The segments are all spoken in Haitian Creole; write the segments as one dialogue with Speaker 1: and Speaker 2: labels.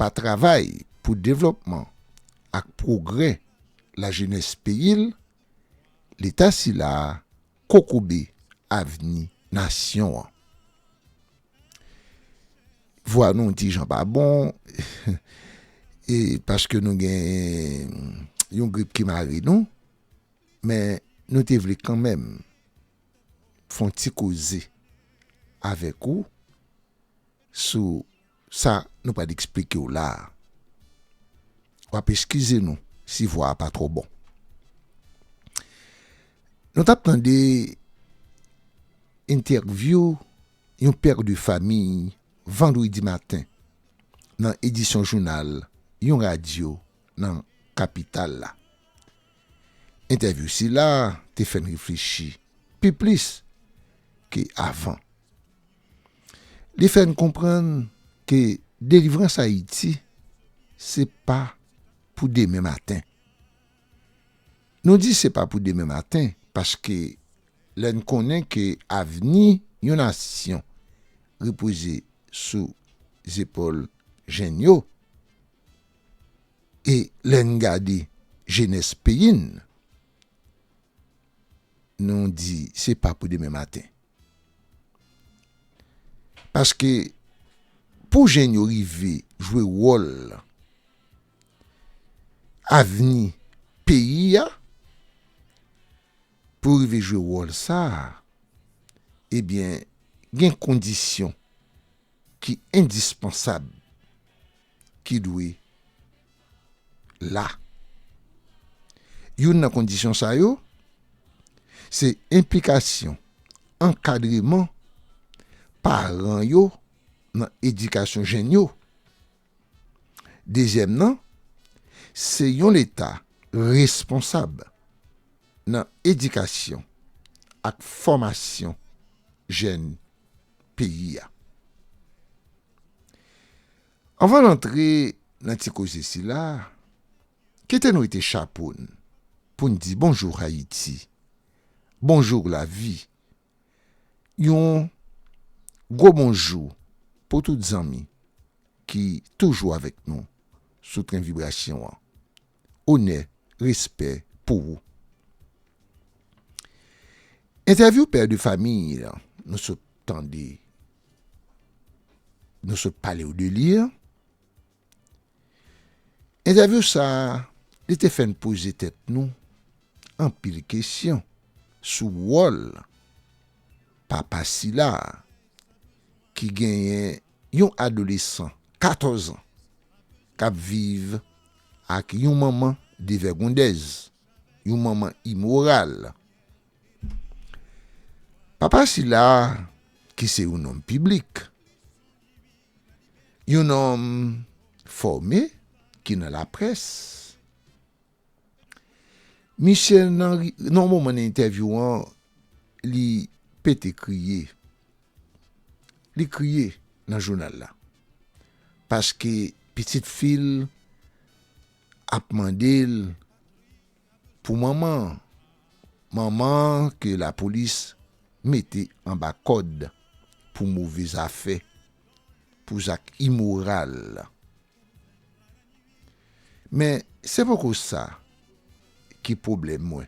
Speaker 1: pa travay pou devlòpman ak pwogrè lajenès peyi l, Leta sila a kokobe avni nasyon an. Vwa nou ti jan pa bon, e paske nou gen yon grip ki mare nou, men nou te vle kanmenm fon ti koze avèk ou sou Sa nou pral eksplike w la a. W ap eskize nou si vwa a pa twò bon. Nou t ap tande entèvyou yon père de famille vandredi maten nan edisyon jounal yon radyo nan kapital la. Entèvyou sila te fè n reflechi pi plis ke avan. Li fè n konprann ke delivrans Ayiti se pa pou demen maten. Nou di se pa pou demen maten paske lè n konnen ke avni yon nasyon repoze sou zepòl jenn yo e lè n gade jenès peyi n, nou di se pa pou demen maten. Paske pou jèn yo rive jwe wòl avni peyi a, pou yo rive jwe wòl sa a, ebyen gen kondisyon ki endispansab. ki dwe la. Youn nan kondisyon sa yo se enplikasyon, ankadreman paran yo nan edikasyon jenn yo. Dezyèm nan se yon Leta responsab nan edikasyon ak fòmasyon jenn peyi a. Anvan n antre nan ti koze sila, kite n wete chapo n pou n di bonjour Ayiti, bonjour lavi, yon gwo bonjou pou tout zanmi ki toujou avèk nou sou tren vibrasyon an. onè respè pou ou. Entèvyou pè de fami an nou sot tande nou sot pale w de li an entèvyou sa li te fè n poze tèt nou anpil kesyon sou wòl papa sila ki genyen Yon adolesan 14 an k ap viv ak yon manman devègondèz, yon manman imoral. Papa sila a, ki se yon nonm piblik, yon nonm fòme ki nan laprès, Misye nan ri, nan yon moman nan entèvyou an, li pete kriye. Li kriye nan jounal la. Paske pitit fi l ap mande l pou manman an. Manman an ke lapolis mete anba kòd pou move zafè, pou zak imoral. Men, se poko sa ki pwoblèm mwen.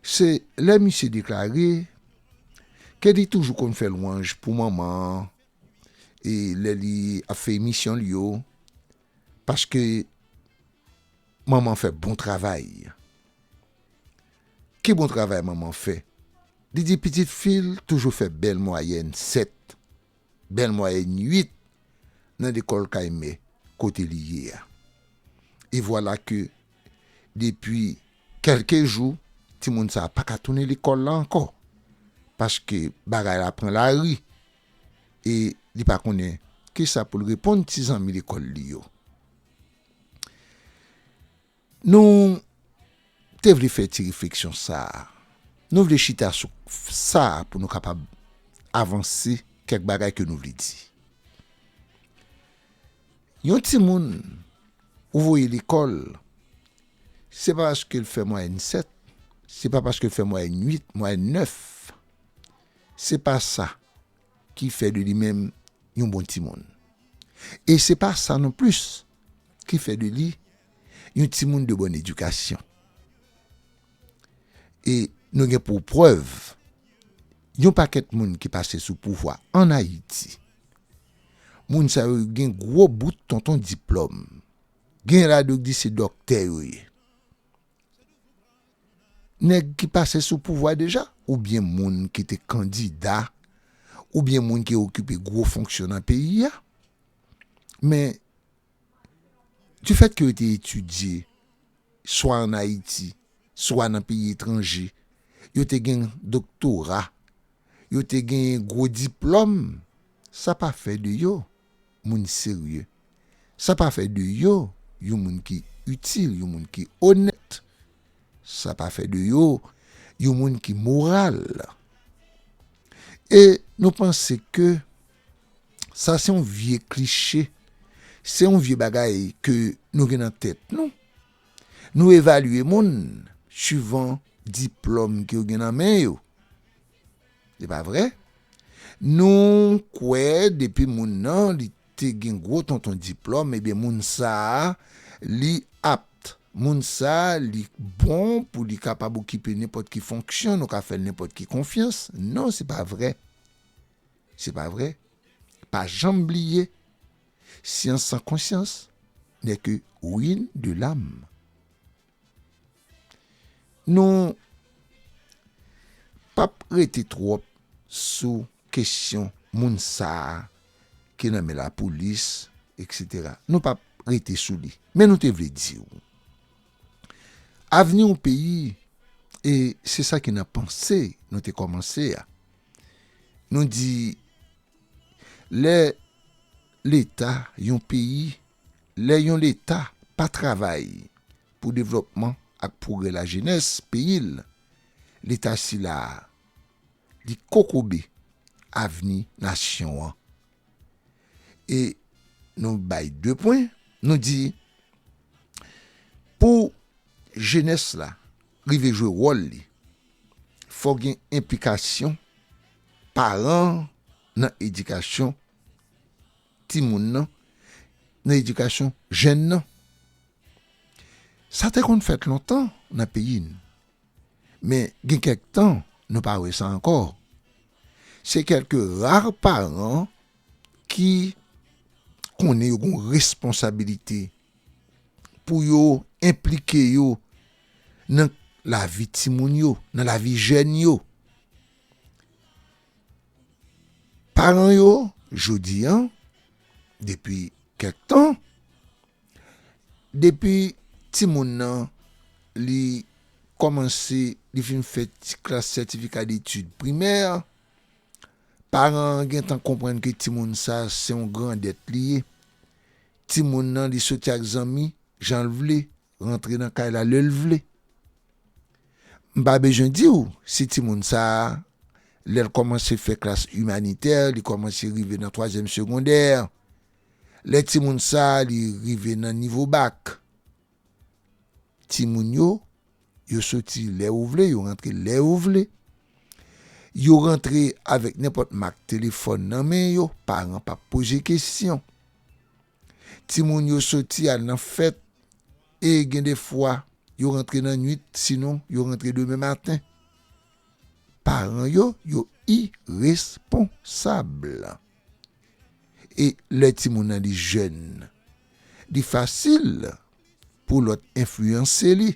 Speaker 1: Se lè misye deklare ke li toujou konn fè lwanj pou Manman an e lè li ap fè emisyon l yo, paske Manman fè bon travay. Ki bon travay Manman fè? Li di pitit fi l toujou fè bèl mwayèn 7. bèl mwayèn 8 nan lekòl kay mè kote li ye a. E vwala ke depi kèlke jou, timoun sa a pa ka tounen lekòl la ankò, paske bagay la pran lari e li pa konnen kisa pou l reponn ti zanmi lekòl li yo. Nou te vle fè ti refleksyon sa a. Nou vle chita sou sa pou nou kapab avanse kèk bagay ke nou vle di. Yon timoun ou voye lekòl, se pa paske l fè mwayèn 7, se pa paske l fè mwayèn 8, mwayèn 9. Se pa sa. ki fè de li menm yon bon timoun. E se pa sa non plis ki fè de li yon timoun de bòn edikasyon. E nou gen pou prèv, yon pakèt moun ki pase sou pouvwa ann Ayiti, moun sa yo gen gwo bout tonton diplòm, genyen ladan yo ki di se dòktè yo ye. Nèg ki pase sou pouvwa deja oubyen moun ki te kandida oubyen moun ki okipe gwo fonksyon nan peyi a men difèt ke yo te etidye swa an Ayiti swa nan peyi etranje yo te gen doktora yo te gen gwo diplòm sa pa fè de yo moun serye. Sa pa fè de yo yon moun ki itil, yon moun ki onèt. Sa pa fè de yo yon moun ki moral. E nou panse ke sa se yon vye kliche, se yon vye bagay ke nou gen nan tèt nou. Nou evalye moun suivan diplòm ke yo gen nan men yo. Se pa vre? Nou kwè depi moun nan li te gen gwo tonton diplòm ebyen moun sa a li apt, moun sa a li bon pou li kapab okipe nenpòt ki fonksyon, nou ka fè l nenpòt ki konfyans. Non se pa vre. Se pa vre. Pa janm bliye syans san konsyans nè ke ruine de l'âme. Nou pap rete twòp sou kesyon moun sa a ki nan men lapolis eksetera, nou pap rete sou li men nou te vle di w avni yon peyi e se sa ki nan panse nou te kòmanse a nou di lè leta yon peyi Lè yon Leta pa travay pou devlòpman ak pwogrè lajenès peyi l, Leta sila a, li kokobe avni nasyon an. E nou bay de pwen, nou di, pou jenès la rive jwe wòl li, fò gen enplikasyon paran an nan edikasyon, timoun nan, nan edikasyon jèn nan. Sa te konn fèt lontan nan peyi n, men gen kèk tan nou pa wè sa ankò. Se kèlke rar paran ki konnen yo gen yon responsabilite pou yo enplike yo nan lavi timoun yo, nan lavi jèn yo. Paran yo jodi an, depi kèk tan, depi timoun nan li kòmanse, li fin fè ti klas sètifika detid primè, paran an gen tan konprann ke timoun sa a se yon grandèt li ye. Timoun nan li soti ak zanmi jan l vle. rantre nan kay la lè l vle. M pa bezwen di w si timoun sa a, lè l kòmanse fè klas imanitè, li kòmanse rive nan twazyèm segondè, lè timoun sa a li rive nan nivo bak. Timoun yo, yo soti lè yo vle, yo rantre lè yo vle. Yo rantre avèk nenpòt mak telefòn nan men yo, paran pa poze kesyon. Timoun yo soti al nan fèt e gen de fwa yo rantre nan nwit sinon yo rantre demen maten. Paran yo, yo iresponsab. E lè timoun nan li jèn, li fasil pou lòt enfliyanse li.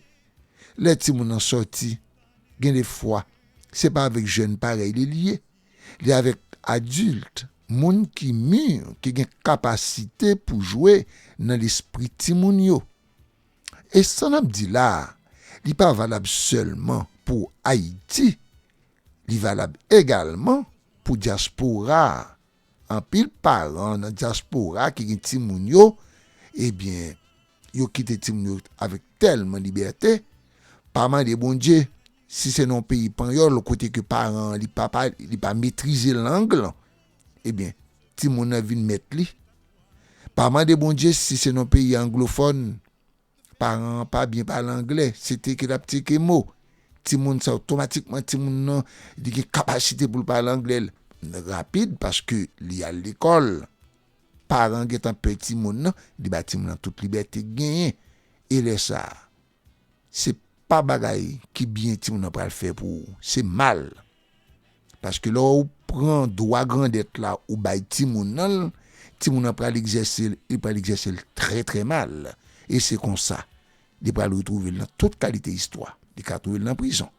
Speaker 1: Lè timoun nan soti, gen de fwa se pa avèk jèn parèy li li ye. Li avèk adilt, moun ki mûr, ki gen kapasite pou jwe nan lespri timoun yo. E sa n ap di la a, li pa valab sèlman pou Ayiti, li valab egalman pou dyaspora a. Anpil paran nan dyaspora ki gen timoun yo, ebyen, yo kite timoun yo avèk tèlman libète, pa mande Bondye Si se nan yon peyi panyòl kote ke paran an li pa pale, li pa metrize lang lan, ebyen timoun nan vin mèt li. Pa mande Bondye si se nan yon peyi anglofòn, paran an pa byen pale angle, se teke l ap teke mo, timoun sa otomatikman timoun nan li gen kapasite pou l pale angle l rapid paske li al lekòl. Paran an gentan pè timoun nan, li ba timoun nan tout libète l genyen e lè sa a. se pa bagay ki byen timoun nan pral fè pou ou, se mal. Paske lè ou pran dwa grandèt la ou bay timoun nan l, timoun nan pral egzèse l, li pral egzèse l trè trè mal. E se konsa, li pral retwouve l nan tout kalite istwa. Li ka twouve l nan prizon.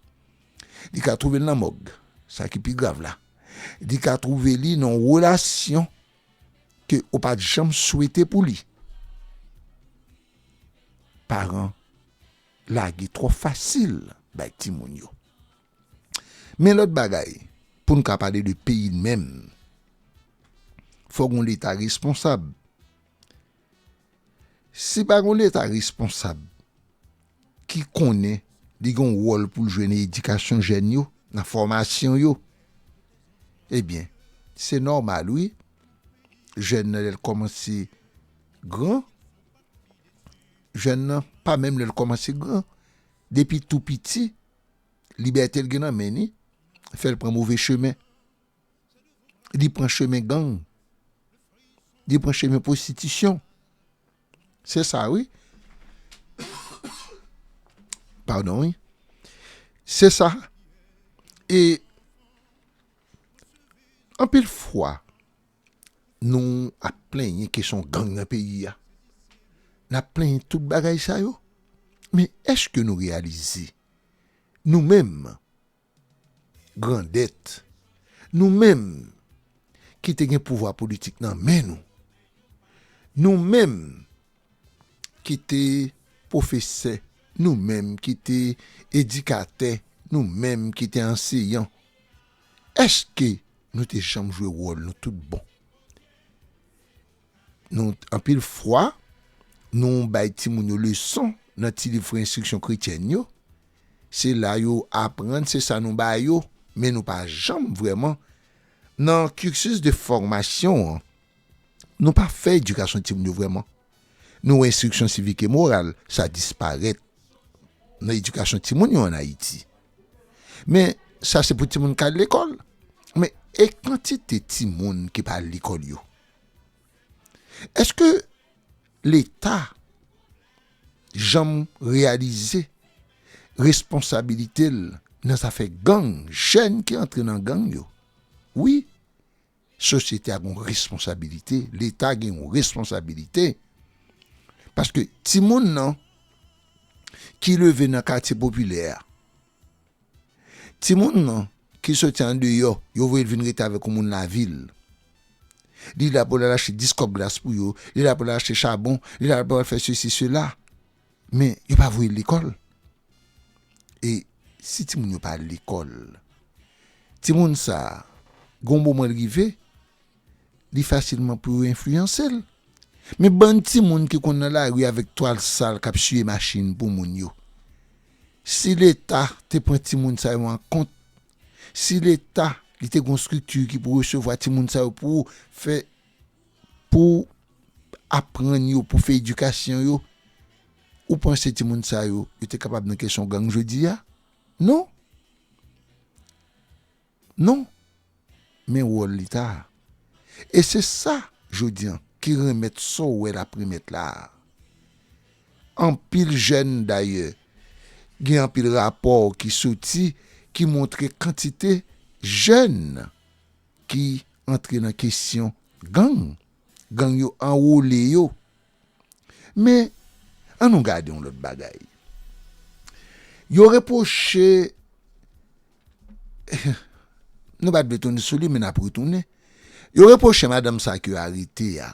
Speaker 1: Li ka twouve l nan mòg, sa ki pi grav la. Li ka twouve li nan yon relasyon ke ou pa t janm swete pou li. paran lage twò fasil bay timoun yo. Men lòt bagay, pou n ka pale de peyi n menm, fòk yon Leta responsab. Si pa gen yon Leta responsab ki konnen li gen yon wòl pou l jwe nan edikasyon jèn yo, nan fòmasyon yo, ebyen, se nòmal wi, jèn nan lè l kòmanse Gran, jèn nan pa menm lè l kòmanse gran. Depi tou piti, libète l gen nan men ni fè l pran move chemen. Li pran chemen gang. Li pran chemen pwostitisyon. Se sa wi. Padon wi. Se sa. E anpil fwa. Nou ap plenyen kesyon gang nan peyi a, n ap plenyen tout bagay sa yo, men èske nou reyalize nou menm grandèt, nou menm ki te gen pouvwa politik nan men nou, nou menm ki te pwofesè, nou menm ki te edikatè, nou menm ki te anseyan, Eske nou te janm jwe wòl nou tout bon? Nou Anpil fwa, nou bay timoun yo leson nan ti liv Fri Enstriksyon Kretyèn yo. Se la yo aprann, se sa nou ba yo, men nou pa janm vrèman nan cursus de formation an. Nou pa fè edikasyon timoun yo vrèman. Nou wè enstriksyon sivik e moral sa disparèt nan edikasyon timoun yo an Ayiti. Men, sa se pou timoun k al lekòl. Men, e kantite timoun ki pa al lekòl yo? Èske Leta janm reyalize responsabilite l nan zafè gang, jèn ki antre nan gang yo? Wi. Sosyete a gen yon responsabilite, leta gen yon responsabilite paske timoun nan ki leve nan katye popilè a, timoun nan ki soti andeyò, yo voye l vin rete avèk yon moun lavil, li la pou l al achte 10 kòb glas pou yo, li la pou l al achte chabon, li la pou l al fè sesi sela. Men yo pa voye l lekòl. E si timoun yo pa al lekòl, timoun sa a, gen yon moman l rive, li fasilman pou yo enfliyanse l. Men bann timoun ki konn nan lari avèk twal sal k ap siye machin pou moun yo, si Leta te pran timoun sa yo an kont, si Leta li te gen yon estrikti ki pou resevwa timoun sa yo pou fè. Pou aprann yo, pou fè edikasyon yo. Ou panse timoun sa yo, yo te kapab nan kesyon gang jodi a? Non! Non! Men wòl Leta a. E se sa, jodi an, ki renmèt sa w wè l ap renmèt la a. Anpil jèn, dayè, gen anpil rapò ki soti, ki montre kantite jèn. ki antre nan kesyon gang, gang yo anwole yo. Men, an nou gade yon lòt bagay. Yo repwoche, nou pa t vle tounen sou li men n ap retounen, yo repwoche madanm sa ke yo arete a,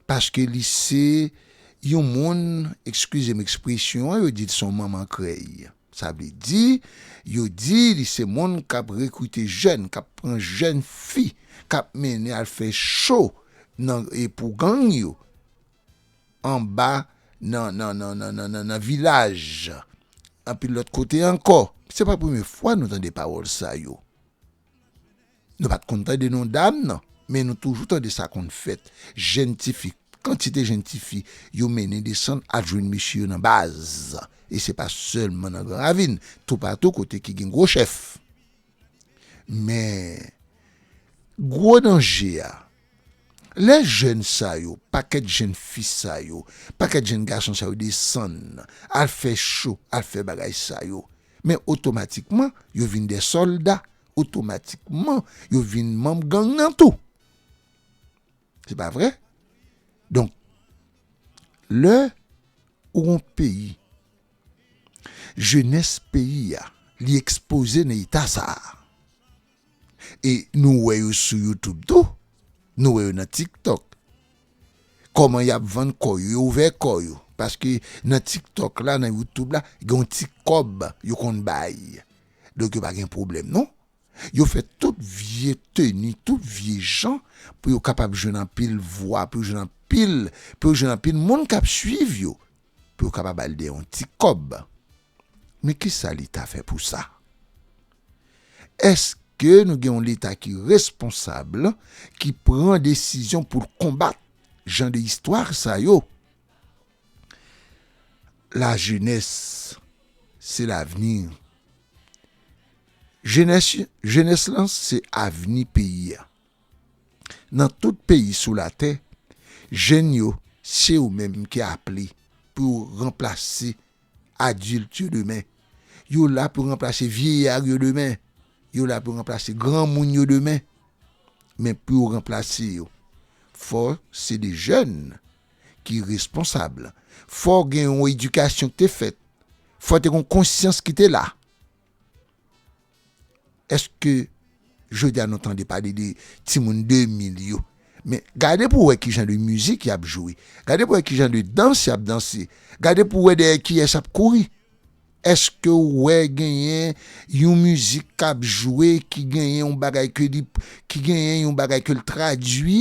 Speaker 1: paske li se yon moun, ekskize m ekspresyon an, yo di l se yon manman krèy. Sa vle di, yo di li se moun k ap rekrite jèn, k ap pran jèn fi, k ap mennen al fè cho nan pou gang yo anba nan nan nan nan nan nan nan vilaj anpil lòt kote ankò. Se pa premye fwa nou tande pawòl sa yo. Nou pat konn tande non dam nan, men nou toujou tande sa konn fèt, jenn ti fi, kantite jenn ti fi yo mennen desann al jwenn mesye yo nan baz, e se pa sèlman nan Gran Ravin, toupatou kote ki gen gwo chèf. Men, gwo danje a, lè jenn sa yo, pakèt jenn fi sa yo, pakèt jenn gason sa yo desann al fè cho, al fè bagay sa yo, men otomatikman yo vin dè sòlda otomatikman yo vin manm gang nan tou. Se pa vre? Donk, lè ou gon peyi, jenès peyi a, li ekspoze nan eta sa a, e nou wè yo sou YouTube tou, nou wè yo nan TikTok, kòman y ap vann kò yo, yo ouvè kò yo, paske nan TikTok la, nan YouTube la, gen yon ti kòb yo konn bay. donk yo pa gen pwoblèm non, yo fè tout vye teni, tout vye jan pou yo kapab jwenn anpil vwa, pou yo jwenn anpil, pou yo jwenn anpil moun k ap suiv yo, pou yo kapab al dèyè yon ti kòb. Men ki sa Leta fè pou sa? Èske nou gen yon Leta ki responsab, ki pran desizyon pou l konbat jan de istwa sa yo? la jenès se lavni jenès jenès lan se avni peyi a nan tout peyi sou latè jèn yo se yo menm ki aple pou yo ranplase adilt yo demen yo la pou ranplase vyeya yo demen yo la pou ranplase granmoun yo demen men pou yo ranplase yo fò se de jèn ki responsab. Fò gen yon edikasyon ki te fèt. Fò te gen yon konsyans ki te la. Eske jodi a nou tande pale de timoun 2000 yo? Men, gade pou wè ki jan de mizik y ap jwe. Gade pou wè ki jan de dans y ap danse. Gade pou wè dèyè kiyès y ap kouri. Eske ou wè genyen yon mizik k ap jwe ki genyen yon bagay ke li, ki genyen yon bagay ke li tradui?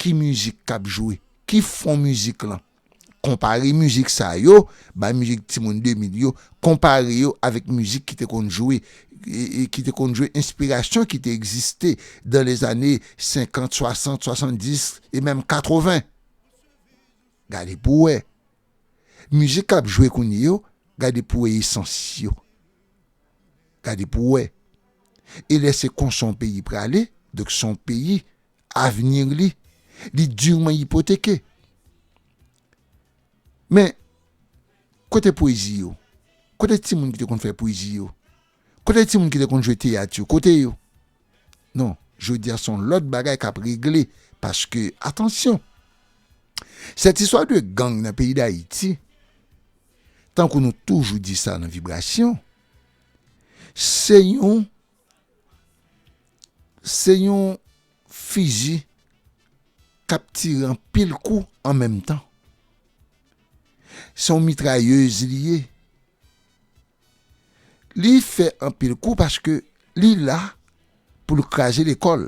Speaker 1: Ki mizik k ap jwe? Ki fon mizik lan? Konpare mizik sa yo, bay mizik Timoun 2000 yo, konpare yo avèk mizik ki te konn jwe, ki te konn jwe enspirasyon ki te egziste dan lèzane 50, 60, 70 e menm 80. Gade pou w wè. Mizik k ap jwe kounye yo, gade pou w wè esans yo. Gade pou w wè. E lè se konsa yon peyi prale, donk se yon peyi avenir li, li durement ipoteke. Men, kote pwezi yo? Kote ti moun ki te konn fè pwezi yo? Kote ti moun ki te konn jwe teyat yo? Kote yo? Non, jodi a son lòt bagay k ap regle paske, atansyon, sèt istwa de gang nan peyi Dayiti, tankou nou toujou di sa nan Vibration, se yon Se yon fiji k ap tire anpil kou an menm tan. Se yon mitrayez li ye. Li fè anpil kou paske li la pou l kraze lekòl.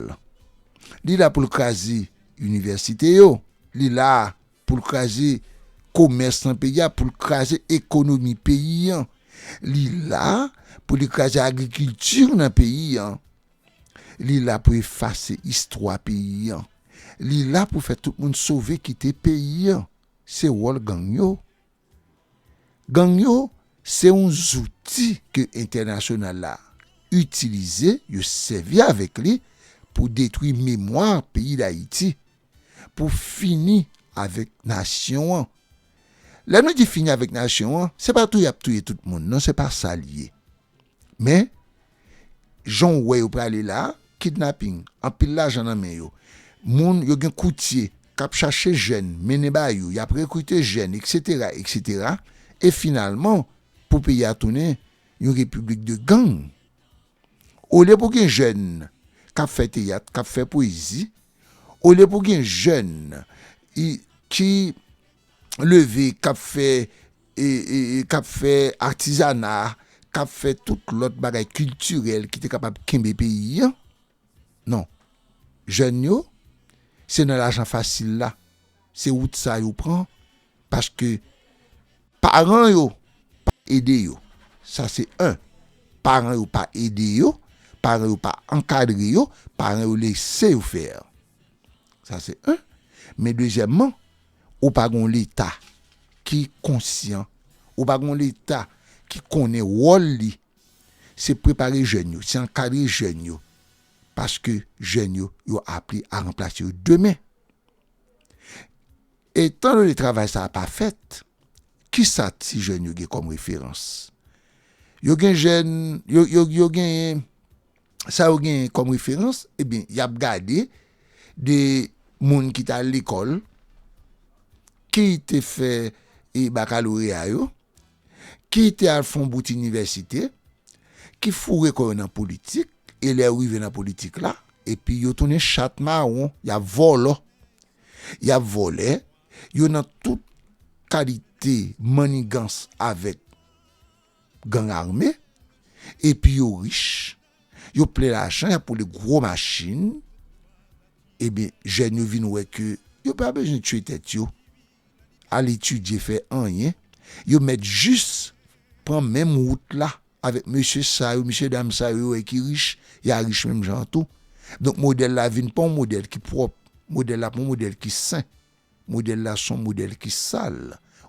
Speaker 1: Li la pou l kraze inivèsite yo. Li la Pou l kraze komès nan peyi a, pou l kraze ekonomi peyi an. Li la pou li kraze agrikilti nan peyi an. Li la pou efase istwa peyi an. Li la pou fè tout moun sove kite peyi an. Se wòl gang yo. Gang yo se yon zouti ke entènasyonal la itilize, yo sèvi avèk li pou detwi memwa peyi Dayiti. pou fini avèk nasyon an. Lè nou di fini avèk nasyon an, se pa touye y ap touye tout moun non, se pa sa l ye. Men, jan w wè yo prale la a, kidnaping, anpil lajan nan men yo, moun, yo gen koutye k ap chache jèn mennen ba yo, y ap rekrite jèn, eksetera, eksetera, e finalman, pou peyi a tounen yon repiblik de gang, Olye pou gen jèn k ap fè teyat, k ap fè pwezi, olye pou gen jèn ki leve, k ap fè, k ap fè atizana, k ap fè tout lòt bagay kiltirèl ki te kapab kenbe peyi an, non, jèn yo se nan lajan fasil la Se wout sa yo pran paske paran yo pa ede yo. Sa se 1. Paran yo pa ede yo, paran yo pa ankadre yo, paran yo lese yo faire. Sa se 1. Men dezyèmman, ou pa gen yon leta ki konsyan, ou pa gen yon leta ki konnen wòl li. Se prepare jèn yo, se ankadre jèn yo paske jèn yo yo aple a ranplase yo demen. Etan done travay sa a pa fèt, ki sa ti jèn yo gen kòm referans? Yo gen jèn, yo genyen, sa yo genyen kòm referans, ebyen y ap gade de moun ki t al lekòl, ki te fè bakaloreya yo. ki te al fon bout inivèsite, ki foure kò yo nan politik, e lè yo rive nan politik la, epi yo tounen chat mawon, y ap vòlò, y ap vòlè, yo nan tout kalite mannigans avèk gang ame, epi yo rich, yo plen lajan, y ap woule gwo machin, ebyen jèn yo vin wè ke yo pa bezwen tiye tèt yo, al etidye fè anyen, yo mèt jis pran menm wout la avèk mesye sa yo, mesye dam sa yo yo wè ki rich, ya rich menm jan an tou. Donk modèl la vin pa yon modèl ki pwòp, modèl la pa yon modèl ki sen, modèl la se yon modèl ki sal,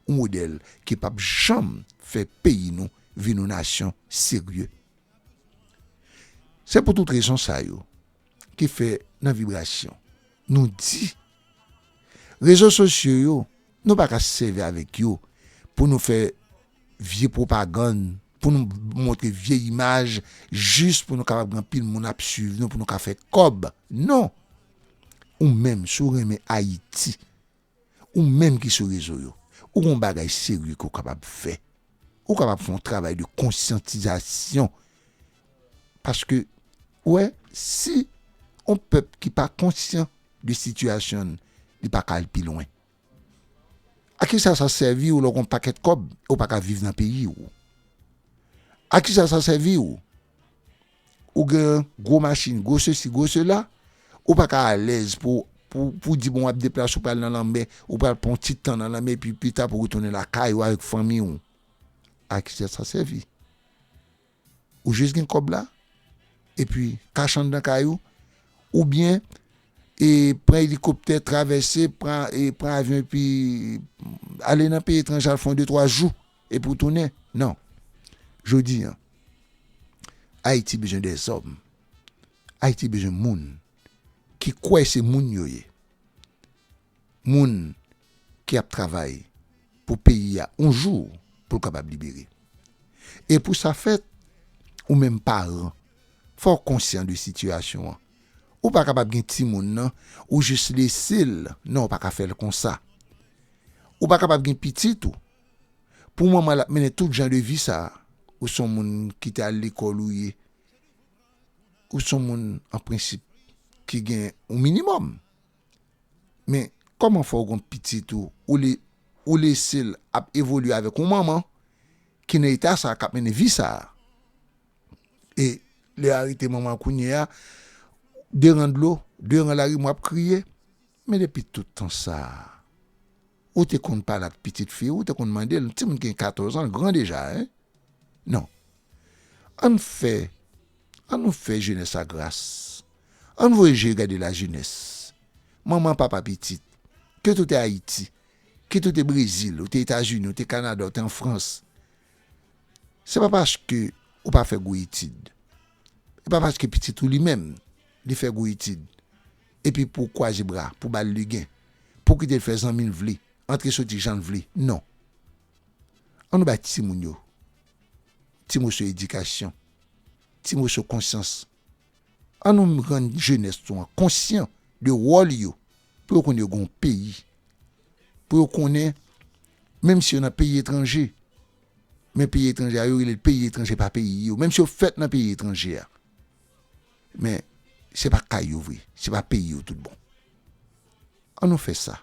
Speaker 1: yon modèl ki pap janm fè peyi nou vin yon nasyon serye. Se pou tout rezon sa yo. te fè nan vibrasyon. Nou di, Rezo sosyo yo, nou pa ka sèvi avèk yo pou nou fè vye pwopagann, pou nou montre vye imaj jis pou nou kapab gen anpil moun ap suiv nou pou nou ka fè kòb. Non! Ou menm, si w renmen Ayiti. Ou menm ki sou rezo yo, ou gen yon bagay serye ke w kapab fè. Ou kapab fè yon travay de konsyantizasyon. Paske, ou wè, si yon pèp ki pa konsyan de sitiyasyon l, li pa ka al pi lwen. A kisa sa sèvi w lè w gen yon pakèt kòb e w pa ka viv nan peyi w? A kisa sa sèvi w Ou gen gwo machin, gwo sesi, gwo sela, ou pa ka alèz pou ou di bon w ap deplase ou pral nan lanmè, ou pral pran yon ti tan nan lanmè epi pita pou retounen lakay ou avèk fanmi ou. A ki sa sa sèvi? Ou jis gen kòb la epi kache anndan kay ou oubyen pran elikoptè travèse, pran avyon epi ale nan peyi etranje al fè yon de twa jou. Epi w tounen? Non. Jodi an, Ayiti bezwen dè zòm. Ayiti bezwen moun ki kwè se moun yo ye. Moun ki ap travay pou peyi a yon jou pou l kapab libere. E pou sa fèt, ou menm paran, fò w konsyan de sitiyasyon an. Ou pa kapab gen timoun nan, ou jis lese l, non ou pa ka fè l konsa. Ou pa kapab gen pitit ou. Pou manman lap mennen tout jan de vi sa ou son moun ki te al lekòl ou ye ou son moun an prensip ki gen yon minimòm men kòman fè ou gon pitit ou ou lesel ap evolye avèk yon manman ki nan eta sa kap mennen vi sa e lè a rete manman kounye a deran dlo deran larim wap kriye men depi tout tan sa. Ou te konn pale ak pitit fi ou, ou te konn mande l, timoun ki gen 14 an gran deja hein? Non. Ann fè, an nou fè jenès la gras. Ann voye je gade lajenès. Manman, papa pitit, kit ou te Ayiti, kit ou te Brezil, ou te Etazini, ou te Kanada, ou te an Frans, se pa paske ou pa fè gwo etid, e pa paske pitit ou li menm li fè gwo etid Epi pou kwaze bra, pou ba l ligen, pou kite l fè zanmi l vle, antre soti jan l vle. Non. An nou bay timoun yo ti moso edikasyon, ti moso konsyans. An nou rann jenès nou an konsyan de wòl yo, pou yo konnen yo gen yon peyi, pou yo konnen menm si yo nan peyi etranje, men peyi etranje a yo rele l peyi etranje pa peyi yo, menm si yo fèt nan peyi etranje a, Men, se pa kay yo vre, se pa peyi yo tout bon. An nou fè sa,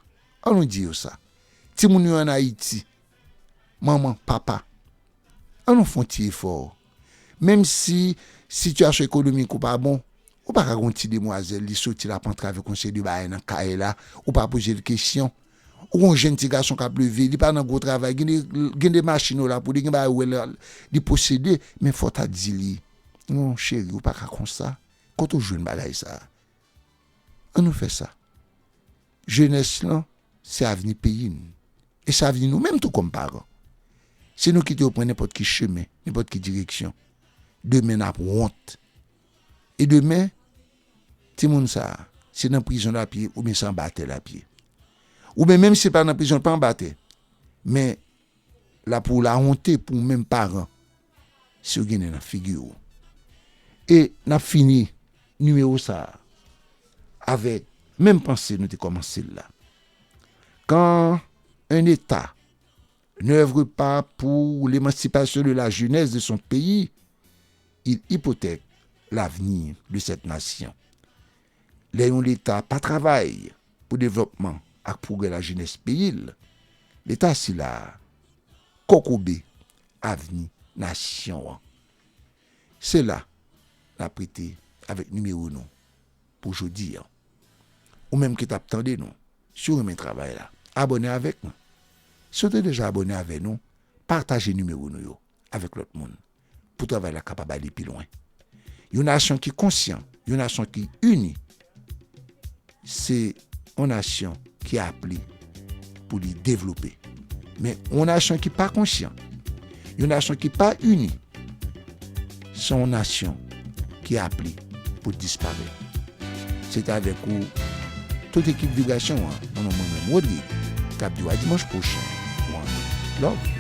Speaker 1: an nou di yo sa. Timoun yo an Ayiti, manman, papa, an nou fè yon ti efò. Menm si sitiyasyon ekonomik ou pa bon, ou pa ka gen yon ti demwazèl li soti l ap antrave yon seri de bagay nan kay la, ou pa poze l kesyon. Ou gen yon jenn ti gason k ap leve, li pa nan gwo travay, gen de gen de machin yo la pou li, gen bagay ou wè la li posede, men fò w ta di li, non cheri ou pa ka konsa, kote w jwenn bagay sa a? An nou fè sa, jenès lan se avni peyi n e se avni nou menm tou kòm paran. Si nou kite yo pran nenpòt ki chemen, nenpòt ki direksyon, demen n ap wont. e demen timoun sa a se nan prizon l ap ye oubyen se anba tè l ap ye. Oubyen menm si se pa nan prizon l pa anba tè men l ap ou lawonte pou ou menm paran si yo gen nen nan figi ou. E n ap fini nimewo sa a avèk menm panse nou te kòmanse l la, kan 1 eta. Nan oeuvre pa pou l'emancipation de la jeunesse de son pays, il hypothèque l'avenir de cette nation. Lè yon leta pa travay pou devlòpman ak pwogrè lajenès peyi l, leta sila a kokobe avni nasyon an. Se la n ap rete avèk nimewo nou pou jodi an. Ou menm ki tap tande nou, si w renmen travay la, abòne avèk nou. Si w te deja abòne avè nou, pataje nimewo nou yo avèk lòt moun pou travay la kapab ale pi lwen. Yon nasyon ki konsyan, yon nasyon ki ini se. yon nasyon ki ap li pou li devlope. Men yon nasyon ki pa konsyan, yon nasyon ki pa ini, se yon nasyon ki ap li pou disparè. Se ta vek ou, tout ekip vibrasyon an, mwen mwen mwen mwen li, kap diwa dimanj pwoshen, one love.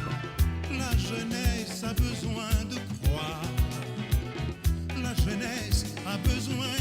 Speaker 1: La jeunesse a besoin de croire, la
Speaker 2: jeunesse a besoin